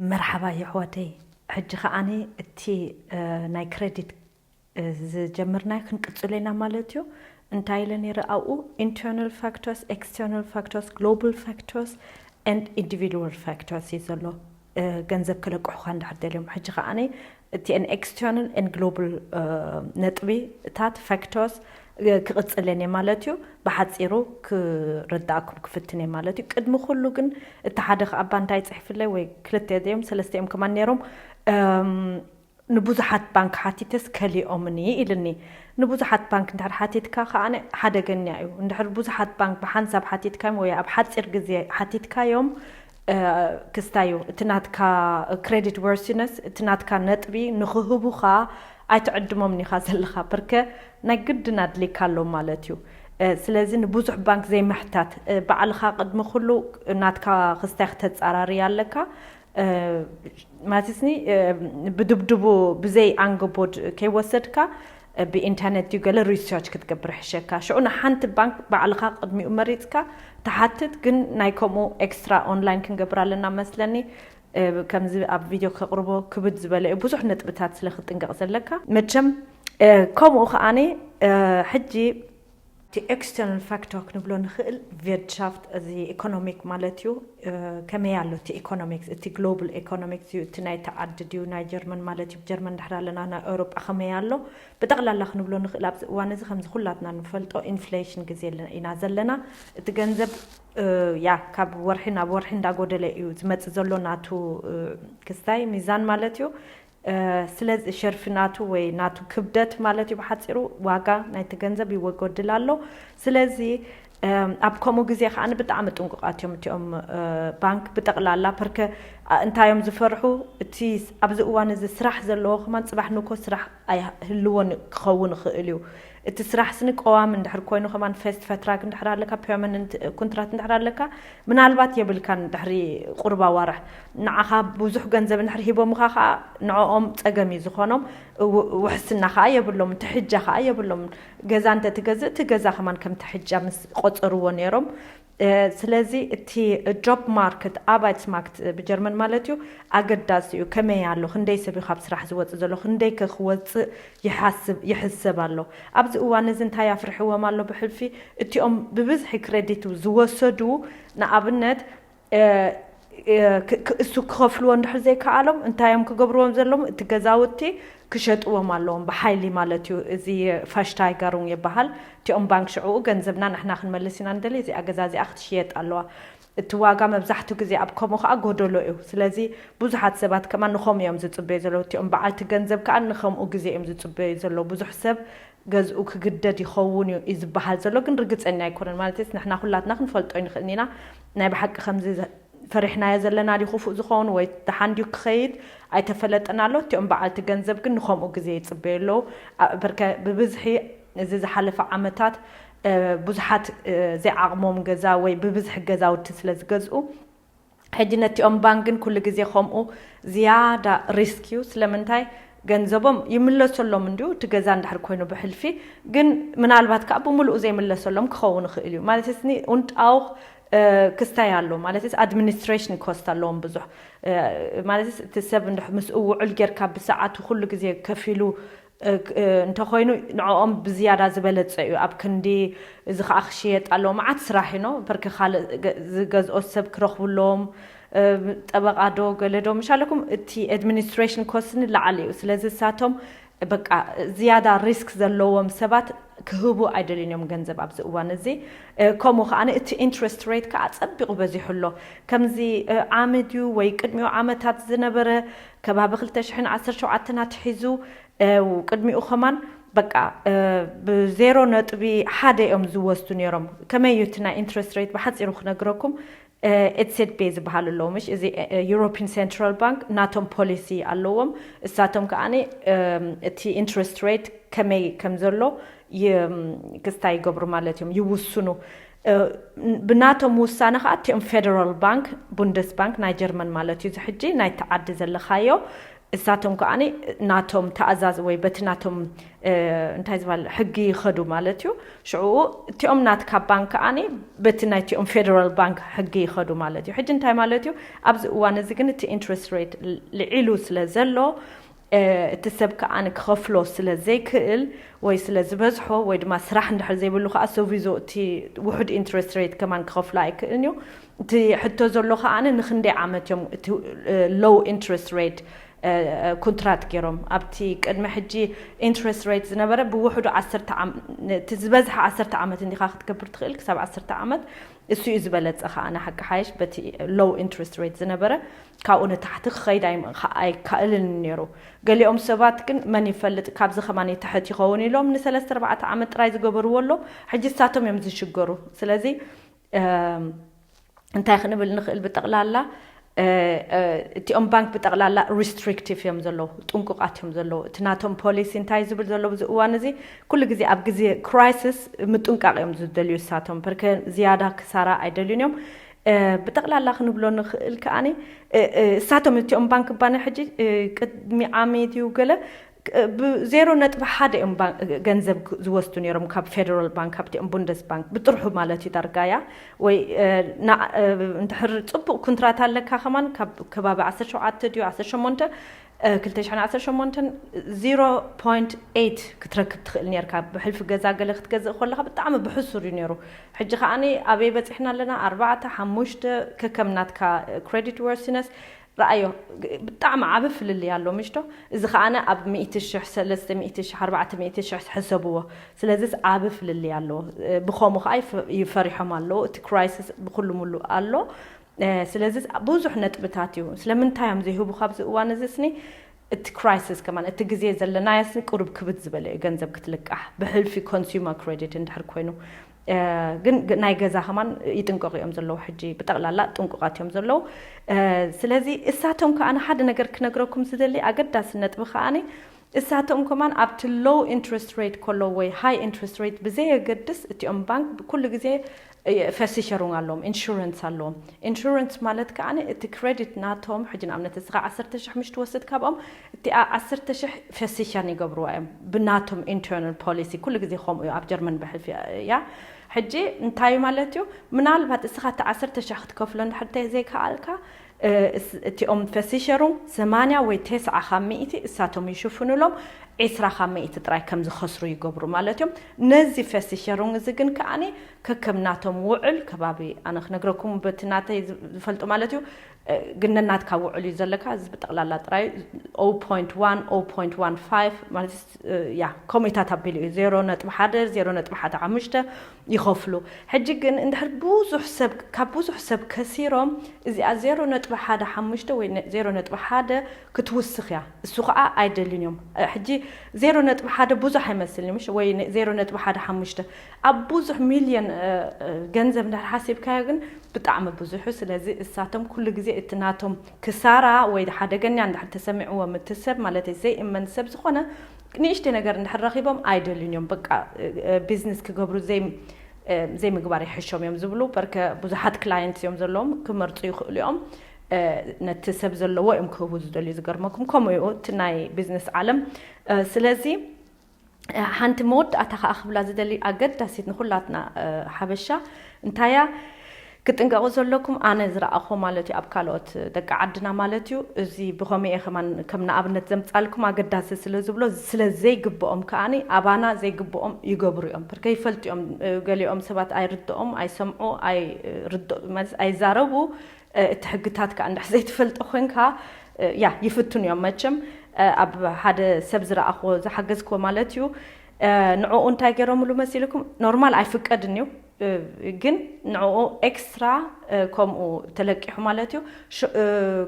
መርሓባ የሕዋተይ ሕጂ ከኣኒ እቲ ናይ ክረዲት ዝጀምርናዮ ክንቅጽሎ ኢና ማለት እዩ እንታይ ኢለ ኔረ ኣብኡ ኢንተርናል ፋክቶርስ ኤክስተርናል ፋክቶርስ ግሎባል ፋክቶርስ ኤንድ ኢንዲቪድዋል ፋክቶርስ እዩ ዘሎ ገንዘብ ክለቅሑኻ እንድሕር ደልዮም ሕጂ ከኣኒ እቲ ን ኤክስተርናል ን ግሎባል ነጥቢታት፣ ፋክተርስ፣ ክቕጽል እየ ማለት እዩ። ብሓጺሩ ክርድኣኩም ክፍትን እየ ማለት እዩ። ቅድሚ ኩሉ ግን እቲ ሓደ ከኣ እባ እንታይ ጽሒፍለይ ወይ ክልተ እዮም ሰለስተ እዮም ከማን ነይሮም ንብዙሓት ባንክ ሓቲተስ ከሊኦምኒ ኢሉኒ። ንብዙሓት ባንክ እንድሕር ሓቲትካ ከኣ ሓደገኛ እዩ። እንድሕር ብዙሓት ባንክ ብሓንሳብ ሓቲትካዮም ወይ ኣብ ሓጺር ግዜ ሓቲትካዮም ክስታዩ እቲ ናትካ credit worthiness እቲ ናትካ ነጥቢ ንኽህቡኻ ኣይትዕድሞምን ኢኻ ዘለኻ ፕርከ ናይ ግድን ኣድልይካ ኣሎ ማለት እዩ ስለዚ ንብዙሕ ባንክ ዘይምሕታት ባዕልኻ ቅድሚ ኩሉ ናትካ ክስታይ ክተጻራሪ ኣለካ ማለትስኒ ብድብድቡ ብዘይ ኣንገቦድ ከይወሰድካ ብኢንተርነት ድዩ ገለ ሪሰርች ክትገብር ይሕሸካ ሽዑ ንሓንቲ ባንክ ባዕልኻ ቅድሚኡ መሪጽካ ትሓትት ግን ናይ ከምኡ ኤክስትራ ኦንላይን ክንገብር ኣለና መስለኒ ከምዚ ኣብ ቪድዮ ከቕርቦ ክብድ ዝበለ እዩ ብዙሕ ነጥብታት ስለ ክትጥንቀቕ ዘለካ መቸም ከምኡ ከዓኒ ሕጂ እቲ ኤክስተርናል ፋክተር ክንብሎ ንኽእል ቪርትሻፍት እዚ ኢኮኖሚክ ማለት እዩ ከመይ ኣሎ እቲ ኢኮኖሚክስ እቲ ግሎብል ኤኮኖሚክስ እዩ እቲ ናይቲ ዓዲ ድዩ ናይ ጀርመን ማለት እዩ ጀርመን ድሕር ኣለና ናይ ኤውሮጳ ከመይ ኣሎ ብጠቕላላ ክንብሎ ንኽእል ኣብዚ እዋን እዚ ከምዚ ኩላትና ንፈልጦ ኢንፍሌሽን ግዜ ኢና ዘለና እቲ ገንዘብ ያ ካብ ወርሒ ናብ ወርሒ እንዳጎደለ እዩ ዝመፅእ ዘሎ ናቱ ክስታይ ሚዛን ማለት እዩ ስለዚ ሸርፊ ናቱ ወይ ናቱ ክብደት ማለት እዩ ብሓጺሩ ዋጋ ናይቲ ገንዘብ ይወጎድል ኣሎ ስለዚ ኣብ ከምኡ ግዜ ከኣ ብጣዕሚ ጥንቁቃት እዮም እቲኦም ባንክ ብጠቅላላ ፐርከ እንታይ እዮም ዝፈርሑ እቲ ኣብዚ እዋን እዚ ስራሕ ዘለዎ ከማን ጽባሕ ንኮ ስራሕ ኣይህልዎን ክኸውን ይኽእል እዩ እቲ ስራሕ ስኒ ቀዋሚ እንድሕር ኮይኑ ከማን ፈስት ፈትራግ እንድሕር ኣለካ ፐርመንንት ኩንትራት እንድሕር ኣለካ ምናልባት የብልካን ድሕሪ ቁሩብ ኣዋርሕ ንዓካ ቡዙሕ ገንዘብ እንድሕር ሂቦምካ ከኣ ንዕኦም ጸገም እዩ ዝኮኖም ውሕስና ከኣ የብሎምን ትሕጃ ከኣ የብሎምን ገዛ እንተትገዝእ እቲ ገዛ ከማን ከም ትሕጃ ምስ ቆጸርዎ ኔሮም ስለዚ እቲ ጆብ ማርክት፣ ኣርባይትስማክት ብጀርመን ማለት እዩ፣ ኣገዳሲ እዩ። ከመይ ኣሎ? ክንደይ ሰብ እዩ ካብ ስራሕ ዝወጽእ ዘሎ? ክንደይከ ክወጽእ ይሓስብ፣ ይሕሰብ ኣሎ? ኣብዚ እዋን እዚ እንታይ ኣፍርሕዎም ኣሎ? ብሕልፊ እቲኦም ብብዝሒ ክረዲት ዝወሰዱ ንኣብነት፣ እሱ ክኸፍልዎ እንድሕር ዘይከኣሎም እንታይ እዮም ክገብርዎም ዘለዎም? እቲ ገዛውቲ ክሸጥዎም ኣለዎም ብሓይሊ ማለት እዩ። እዚ ፋሽታይጋሩንግ ይበሃል። እቲኦም ባንክ ሽዕኡ ገንዘብና ንሕና ክንመልስ ኢና ንደሊ፣ እዚኣ ገዛ እዚኣ ክትሽየጥ ኣለዋ። እቲ ዋጋ መብዛሕትኡ ግዜ ኣብ ከምኡ ከኣ ጎደሎ እዩ። ስለዚ ብዙሓት ሰባት ከማን ንኸምኡ እዮም ዝጽበዩ ዘለዉ። እቲኦም በዓልቲ ገንዘብ ከኣ ንኸምኡ ግዜ እዮም ዝጽበዩ ዘለዉ። ብዙሕ ሰብ ገዝኡ ክግደድ ይኸውን እዩ እዩ ዝበሃል ዘሎ ግን ርግጸኛ ኣይኮነን ማለትስ ንሕና ኩላትና ክንፈልጦ ኣይንኽእልን ኢና ናይ ብሓቂ ከምዚ ፈሪሕናዮ ዘለና ድዩ ክፉእ ዝኸውን ወይ ደሓን ድዩ ክኸይድ ኣይተፈለጠን ኣሎ እቲኦም በዓልቲ ገንዘብ ግን ንኸምኡ ግዜ ይጽበዩ ኣለዉ ኣብርከ ብብዝሒ እዚ ዝሓለፈ ዓመታት ብዙሓት ዘይዓቕሞም ገዛ ወይ ብብዝሒ ገዛውቲ ስለ ዝገዝኡ ሕጂ ነቲኦም ባንክ ግን ኩሉ ግዜ ከምኡ ዝያዳ ሪስክ እዩ ስለምንታይ ገንዘቦም ይምለሰሎም እንድዩ እቲ ገዛ እንድሕር ኮይኑ ብሕልፊ ግን ምናልባት ከኣ ብምሉኡ ዘይምለሰሎም ክኸውን ይኽእል እዩ ማለት ስኒ ኡንጣውኽ ክስታይ ኣሎ ማለትስ ኣድሚኒስትሬሽን ኮስት ኣለዎም ብዙሕ ማለትስ እቲ ሰብ እንድሕ ምስ ውዑል ጌርካ ብሰዓቱ ኩሉ ግዜ ከፊሉ እንተኾይኑ ንዕኦም ብዝያዳ ዝበለጸ እዩ ኣብ ክንዲ እዚ ከኣ ክሽየጥ ኣለዎ መዓት ስራሕ እዩ ነው ፐርክ ካልእ ዝገዝኦ ሰብ ክረኽቡ ኣለዎም ጠበቃ ዶ ገለ ዶ ምሽ ኣለኩም እቲ ኣድሚኒስትሬሽን ኮስት ንላዕሊ እዩ ስለዚ እሳቶም በቃ ዝያዳ ሪስክ ዘለዎም ሰባት ክህቡ ኣይደልዩን እዮም ገንዘብ ኣብዚ እዋን እዚ ከምኡ ከኣ እቲ ኢንትረስት ሬት ከኣ ጸቢቑ በዚሑ ኣሎ ከምዚ ዓሚ ድዩ ወይ ቅድሚኡ ዓመታት ዝነበረ ከባቢ ክልተ ሽሕን ዓሰርተ ሸውዓተን ኣትሒዙ ብ ቅድሚኡ ከማን በቃ ብ ዜሮ ነጥቢ ሓደ እዮም ዝወስዱ ኔሮም ከመይ እዩ እቲ ናይ ኢንትረስት ሬት ብሓጺሩ ክነግረኩም ኤትሴድቤ ዝበሃሉ ኣለዉ ምሽ እዚ ዩሮፒን ሴንትራል ባንክ ናቶም ፖሊሲ ኣለዎም እሳቶም ከኣ እቲ ኢንትረስት ሬት ከመይ ከም ዘሎ ክስታይ ይገብሩ ማለት እዮም ይውስኑ ብናቶም ውሳነ ከኣ እቲኦም ፌደራል ባንክ፣ ቡንደስባንክ ናይ ጀርመን ማለት እዩ እዚ ሕጂ ናይቲ ዓዲ ዘለኻዮ፣ እሳቶም ከኣ ናቶም ተኣዛዝ ወይ በቲ ናቶም እንታይ ዝባል ሕጊ ይኸዱ ማለት እዩ። ሽዑ እቲኦም ናትካ ባንክ ከኣ በቲ ናይቲኦም ፌደራል ባንክ ሕጊ ይኸዱ ማለት እዩ። ሕጂ እንታይ ማለት እዩ ኣብዚ እዋን እዚ ግን እቲ ኢንትረስት ሬት ልዒሉ ስለ ዘሎ እቲ ሰብ ከኣ ክኸፍሎ ስለ ዘይክእል ወይ ስለ ዝበዝሖ ወይ ድማ ስራሕ እንድሕር ዘይብሉ ከኣ ሰጒዞ እቲ ውሑድ ኢንትረስት ሬት ከማን ክኸፍሎ ኣይክእልን እዩ። እቲ ሕቶ ዘሎ ከኣ ንክንደይ ዓመት እዮም እቲ ሎው ኢንትረስት ሬት ኩንትራት ገይሮም ኣብቲ ቅድሚ ሕጂ ኢንትረስት ሬት ዝነበረ ብውሕዱ ዓሰርተ እቲ ዝበዝሐ ዓሰርተ ዓመት እንዲኻ ክትገብር ትኽእል ክሳብ ዓሰርተ ዓመት እሱ እዩ ዝበለጸ ከኣ ሓቂ ሓይሽ በቲ ሎው ኢንትረስት ሬት ዝነበረ ካብኡ ንታሕቲ ክኸይድ ኣይካኣይካእልን ኔሩ። ገሊኦም ሰባት ግን መን ይፈልጥ ካብዚ ከማን ይትሕት ይኸውን ኢሎም ንሰለስተ ኣርባዕተ ዓመት ጥራይ ዝገበርዎ ኣሎ ሕጂ ንሳቶም እዮም ዝሽገሩ። ስለዚ እንታይ ክንብል ንኽእል ብጠቕላላ እቲኦም ባንክ ብጠቕላላ ሪስትሪክቲቭ እዮም ዘለዉ ጥንቁቃት እዮም ዘለዉ እቲ ናቶም ፖሊሲ እንታይ ዝብል ዘሎ ብዚ እዋን እዚ ኩሉ ግዜ ኣብ ግዜ ክራይስስ ምጥንቃቕ እዮም ዝደልዩ እሳቶም ፐርከ ዝያዳ ክሳራ ኣይደልዩን እዮም ብጠቕላላ ክንብሎ ንኽእል ከኣ እሳቶም እቲኦም ባንክ ባኒ ሕጂ ቅድሚ ዓሚ ድዩ ገለ ብዜሮ ነጥቢ ሓደ እዮም ገንዘብ ዝወስዱ ነይሮም ካብ ፌደራል ባንክ ካብቲኦም ቡንደስ ባንክ ብጥርሑ ማለት እዩ ዳርጋያ ወይ እንድሕር ፅቡቕ ኩንትራት ኣለካ ከማን ካብ ከባቢ ዓሰርተ ሸውዓተ ድዩ ዓሰርተ ሸሞንተ ክልተ ሽሕን ዓሰርተ ሸሞንተን ዚሮ ፖይንት ኤይት ክትረክብ ትኽእል ኔርካ ብሕልፊ ገዛ ገለ ክትገዝእ ኮለኻ ብጣዕሚ ብሕሱር እዩ ኔሩ ሕጂ ከኣ ኣበይ በጺሕና ኣለና ኣርባዕተ ሓሙሽተ ከከም ናትካ ክረዲት ወርሲነስ ረኣዮ ብጣዕሚ ዓቢ ፍልልይ ኣሎ ምሽዶ እዚ ከኣ ኣብ ሚእቲ ሽሕ ሰለስተ ሚእቲ ሽሕ ኣርባዕተ ሚእቲ ሽሕ ሕሰብዎ ስለዚስ ዓቢ ፍልልይ ኣሎ ብኸሙ ከኣ እዩ ፈሪሖም ኣለዉ እቲ ክራይሲስ ብኹሉ ምሉእ ኣሎ ስለዚ ብዙሕ ነጥብታት እዩ ስለምንታይ እዮም ዘይህቡካ ኣብዚ እዋን እዚ ስኒ እቲ ክራይስስ ከማን እቲ ግዜ ዘለናዮ ስኒ ቁሩብ ክብድ ዝበለ እዩ ገንዘብ ክትልቃሕ ብሕልፊ ኮንሱመር ክሬዲት እንድሕር ኮይኑ ግን ናይ ገዛ ከማን ይጥንቀቁ እዮም ዘለዉ ሕጂ ብጠቅላላ ጥንቁቃት እዮም ዘለዉ ስለዚ እሳቶም ከኣ ሓደ ነገር ክነግረኩም ዝደሊ ኣገዳሲ ነጥቢ ከኣ እሳቶም ከማን ኣብቲ ሎው ኢንትረስት ሬት ከሎ ወይ ሃይ ኢንትረስት ሬት ብዘየገድስ እቲኦም ባንክ ኩሉ ግዜ እየ ፈሲሸሩንግ ኣለዎም ኢንሹረንስ ኣለዎም ኢንሹረንስ ማለት ከኣ እቲ ክረዲት ናቶም ሕጂ ንኣብነት እስኻ ዓሰርተ ሽሕ ምሽ ትወስድ ካብኦም እቲኣ ዓሰርተ ሽሕ ፈሲሸርን ይገብርዋ እዮም ብናቶም ኢንተርናል ፖሊሲ ኩሉ ግዜ ከምኡ እዩ ኣብ ጀርመን ብሕልፊ እያ ሕጂ እንታይ ማለት እዩ ምናልባት እስኻ እቲ ዓሰርተ ሽሕ ክትከፍሎ እንድሕር ተዘይከኣልካ እቲኦም ፈሲሸሩ ሰማንያ ወይ ቴስዓ ካብ ሚእቲ እሳቶም ይሽፍኑሎም ዒስራ ካብ ሚእቲ ጥራይ ከም ዝኸስሩ ይገብሩ ማለት እዮም። ነዚ ፈሲሸሩንግ እዚ ግን ከኣ ከከም ናቶም ውዕል ከባቢ ኣነ ክነግረኩም በቲ ናተይ ዝፈልጦ ማለት እዩ ግን ነናትካ ውዕል እዩ ዘለካ እዚ ብጠቕላላ ጥራይ ኦው ፖይንት ዋን ኦው ፖይንት ዋን ፋይቭ ማለት ያ ከምኡታት ኣቢሉ እዩ ዜሮ ነጥቢ ሓደ ዜሮ ነጥቢ ሓደ ሓሙሽተ ይኸፍሉ ሕጂ ግን እንድሕር ብዙሕ ሰብ ካብ ብዙሕ ሰብ ከሲሮም እዚኣ ዜሮ ነጥቢ ሓደ ሓሙሽተ ወይ ዜሮ ነጥቢ ሓደ ክትውስኽ እያ እሱ ኸኣ ኣይደልዩን እዮም ሕጂ ዜሮ ነጥቢ ሓደ ብዙሕ ኣይመስልን እዩ ወይ ዜሮ ነጥቢ ሓደ ሓሙሽተ ኣብ ብዙሕ ሚልዮን ገንዘብ እንድሕር ሓሲብካዮ ግን ብጣዕሚ ብዙሕ ስለዚ እሳቶም ኩሉ ግዜ እቲ ናቶም ክሳራ ወይ ሓደገኛ እንድሕር ተሰሚዕዎም እቲ ሰብ ማለት ዘይእመን ሰብ ዝኾነ ንእሽተይ ነገር እንድሕር ረኺቦም ኣይደልዩን እዮም በቃ ቢዝነስ ክገብሩ ዘይምግባር ይሕሾም እዮም ዝብሉ በርከ ብዙሓት ክላየንት እዮም ዘለዎም ክመርፁ ይኽእሉ እዮም ነቲ ሰብ ዘለዎ እዮም ክህቡ ዝደልዩ ዝገርመኩም ከምኡ እዩ እቲ ናይ ቢዝነስ ዓለም ስለዚ ሓንቲ መወዳእታ ከዓ ክብላ ዝደሊ ኣገዳሲት ንኩላትና ሓበሻ እንታያ ክትጥንቀቁ ዘለኩም ኣነ ዝረኣክዎ ማለት ዩ ኣብ ካልኦት ደቂ ዓድና ማለት ዩ እዚ ብከመይ እየ ከማን ከም ንኣብነት ዘምጻልኩም ኣገዳሲ ስለ ዝብሎ ስለ ዘይግብኦም ከኣ ኣባና ዘይግብኦም ይገብሩ እዮም ብ ከይፈልጡ እዮም ገሊኦም ሰባት ኣይርድኦም ኣይሰምዑ ኣይ ርድ ማለት ኣይዛረቡ እቲ ሕግታት ከኣ እንድሕር ዘይትፈልጦ ኮንካ ያ ይፍትኑ እዮም መቸም ኣብ ሓደ ሰብ ዝረኣክዎ ዝሓገዝክዎ ማለት ዩ ንዕኡ እንታይ ገይሮምሉ መሲልኩም ኖርማል ኣይፍቀድን እዩ ግን ንዕኡ ኤክስትራ ከምኡ ተለቂሑ ማለት እዩ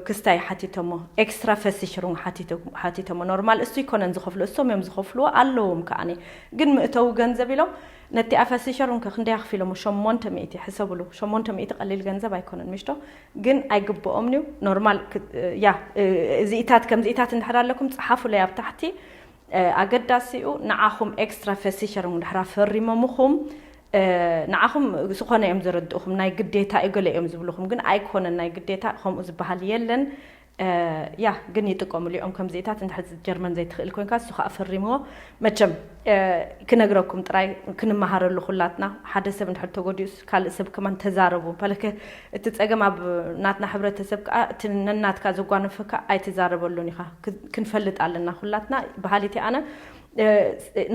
ክስታይ ሓቲቶሞ ኤክስትራ ፈሲሽሩን ሓቲቶሞ ኖርማል እሱ ይኮነን ዝኸፍሉ እሶም እዮም ዝኸፍልዎ ኣለዎም ከዓኒ ግን ምእተዊ ገንዘብ ኢሎም ነቲኣ ፈሲሸሩን ከ ክንደይ ኣኽፊሎሞ ሸሞንተ ሚእቲ ሕሰብሉ ሸሞንተ ሚእቲ ቀሊል ገንዘብ ኣይኮነን ምሽቶ ግን ኣይግብኦምንዩ ኖርማል ያ እዚኢታት ከምዚኢታት እንድሕር ኣለኩም ፀሓፉለይ ኣብ ታሕቲ ኣገዳሲኡ ንዓኹም ኤክስትራ ቨሲቸርንግ ድሕር ኣፈሪሞምኹም ንዓኹም ዝኾነ እዮም ዘረድእኹም ናይ ግዴታ እዩ ገለ እዮም ዝብልኹም ግን ኣይኮነን ናይ ግዴታ ከምኡ ዝበሃል የለን ያ ግን ይጥቀምሉ እዮም ከምዚታት እንድሕር ጀርመን ዘይትኽእል ኮንካ እሱ ከዓ ፈሪምዎ መቸም ክነግረኩም ጥራይ ክንመሃረሉ ኩላትና ሓደ ሰብ እንድሕር ተጎዲኡስ ካልእ ሰብ ከማን ተዛረቡ እቲ ጸገም ኣብ ናትና ሕብረተሰብ ከኣ እቲ ነናትካ ዘጓነፈካ ኣይትዛረበሉን ኢኻ ክንፈልጥ ኣለና ኩላትና በሃሊት እየ ኣነ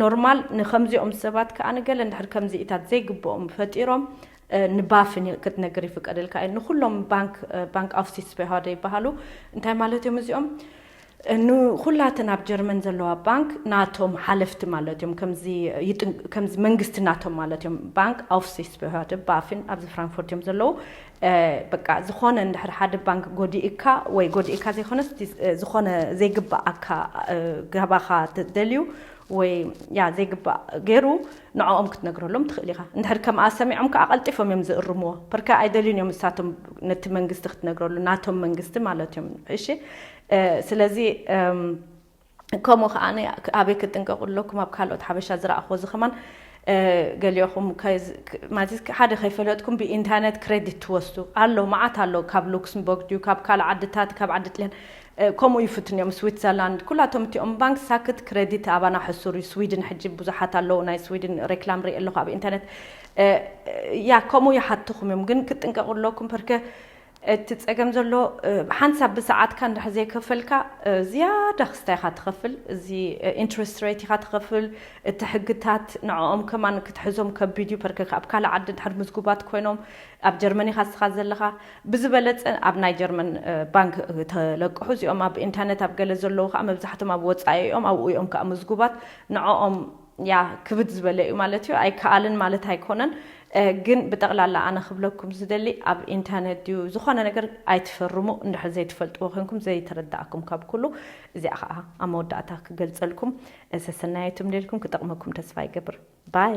ኖርማል ንከምዚኦም ሰባት ከኣ ንገለ እንድሕር ከምዚኢታት ዘይግብኦም ፈጢሮም ንባፍን ክትነግር ይፍቀደልካ እዩ ንኩሎም ባንክ ባንክ ኣውሲስ በሃደ ይበሃሉ እንታይ ማለት እዮም እዚኦም ንኹላተን ኣብ ጀርመን ዘለዋ ባንክ ናቶም ሓለፍቲ ማለት እዮም ከምዚ ይጥንቅ ከምዚ መንግስቲ ናቶም ማለት እዮም ባንክ ኣውፍሲስበህርደ ባፍን ኣብዚ ፍራንክፎርት እዮም ዘለዉ እ፣ በቃ ዝኾነ እንድሕር ሓደ ባንክ ጎዲእካ ወይ ጎዲእካ ዘይኮነስ እቲ ዝኾነ ዘይግብኣካ እ፣ ገባኻ ተደልዩ ወይ ያ ዘይግባእ ገይሩ ንዕኦም ክትነግረሎም ትኽእል ኢኻ እንድሕር ከምኣ ሰሚዖም ከኣ ቀልጢፎም እዮም ዝእርምዎ ፐርከ ኣይደልዩን እዮም ንሳቶም ነቲ መንግስቲ ክትነግረሉ ናቶም መንግስቲ ማለት እዮም እሺ ስለዚ ከምኡ ከኣ ኣበይ ክጥንቀቁ ኣለኩም ኣብ ካልኦት ሓበሻ ዝረኣክዎ እዚ ከማን ገሊኦኹም ማለት ሓደ ከይፈለጥኩም ብኢንተርነት ክሬዲት ትወስዱ ኣሎ መዓት ኣሎ ካብ ሉክስምቦርግ ድዩ ካብ ካልእ ዓድታት ካብ ዓዲ ጥልያን ከምኡ ይፍትኑ እዮም ስዊትዘርላንድ ኩላቶም እቲኦም ባንክ ሳክት ክሬዲት ኣባና ሕሱር እዩ ስዊድን ሕጂ ብዙሓት ኣለዉ ናይ ስዊድን ሬክላም ርኢ ኣለኹ ኣብ ኢንተርነት ያ ከምኡ ይሓትኹም እዮም ግን ክትጥንቀቑ ኣለኩም ፐርከ እቲ ጸገም ዘሎ ሓንሳብ ብሰዓትካ እንድሕር ዘይከፈልካ ዝያዳ ክስታይ ኢኻ ትኸፍል እዚ ኢንትረስት ሬት ኢኻ ትኸፍል እቲ ሕግታት ንዕኦም ከማን ክትሕዞም ከቢድ እዩ ፐርከክ ኣብ ካልእ ዓዲ እንድሕር ምዝጉባት ኮይኖም ኣብ ጀርመን ኢኻ ንስኻ ዘለኻ ብዝበለጸ ኣብ ናይ ጀርመን ባንክ ተለቅሑ እዚኦም ኣብ ኢንተርነት ኣብ ገለ ዘለዉ ከኣ መብዛሕቶም ኣብ ወጻኢ እዮም ኣብኡ እዮም ከኣ ምዝጉባት ንዕኦም ያህ ክብድ ዝበለ እዩ ማለት እዩ ኣይከኣልን ማለት ኣይኮነን ግን ብጠቕላላ ኣነ ክብለኩም ዝደሊ ኣብ ኢንተርነት ድዩ ዝኾነ ነገር ኣይትፈርሙ እንድሕር ዘይትፈልጥዎ ኮንኩም ዘይተረዳእኩም ካብ ኩሉ እዚኣ ከዓ ኣብ መወዳእታ ክገልፀልኩም ሰሰናየቱም ደልኩም ክጠቕመኩም ተስፋ ይገብር ባይ